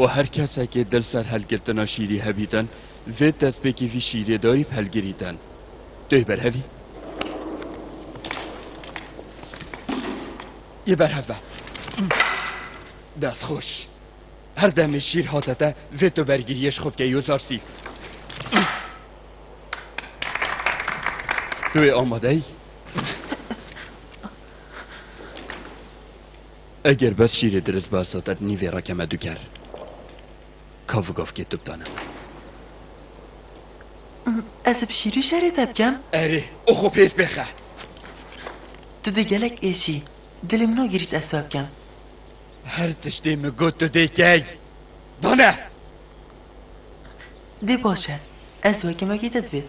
û her kesekê dil ser hilgirtina şîrî hebîtin vê destpêkî vî şîrê dayî bi hilgirîtin. Tu yê berhevî? Yê berhev be. Destxweş. Her demê şîr hate te vê tu bergiriyê ji xwe bike yozar sî. Tu yê amadeyî? Eger bes şîrê dirist ba satet nîvê re keme du ker. Kav gavkê tu bidane. Ez bi şîrî şerê te bikem? Erê, o xwe pêz bêxe. Tu dê gelek êşî. Dilê min o girît ez we bikem. Her tiştê min got tu dê key. Dane! Dê baş e. Ez weke mekê te divêt.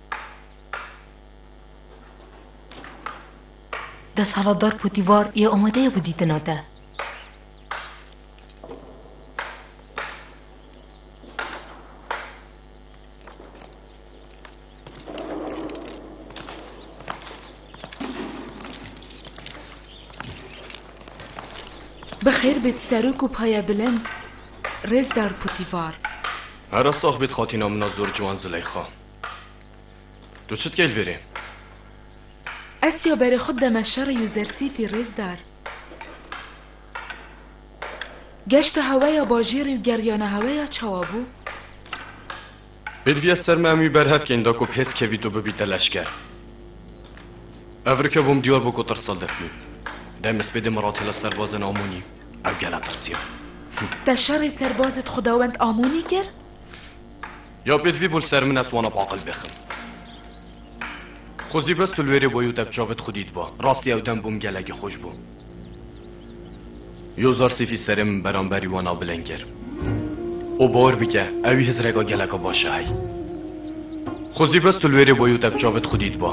Desthilatdar Potîfar yê amade ye ku dîtina te. Bi xêr bêt serok û paya bilind, rêzdar Potîfar. Hera sax bêt xatina min a zor ciwan Zileyxa. Tu çi dikê li vêrê? Ez ya berê xwe deme şerê Yuzersîfî rêzdar. Geşta heweya bajêrê û geriyana heweya çawa bû? Pêdiviya ser me em wî berhev kên da ku bi hêz kevît û bibîte leşker. Ev rike bûm diyar bû ku tirsa dixwîn. Demê spê dê min re têla serbazên Amonî ew gela tirsiya. Te şerê serbazê di xwedawend Amonî kir? Ya pêt vî bo li ser min ez wana bi aqil bêxim. Xwe zî bes tu li wêrê boyî û te bi çavê dixwîdî diba. Rastî ew dem bûm gelekî xweş bû. Yo zar sêfî serê min beramberî wan a bileng kir. Û bawer bike ew wî hizreka geleka baş e hey. Xwe zî bes tu li wêrê boyî û te bi çavê dixwîdî diba.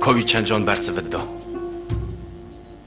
Ka wî çend can ber sivit da.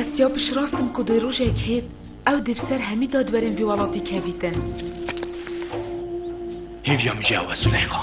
Ez ya piştrast im ku dê rojek hêt ew dê bi ser hemî dadwerên vî welatî kevîtin. Hêviya min jî ew e Zuleyxa.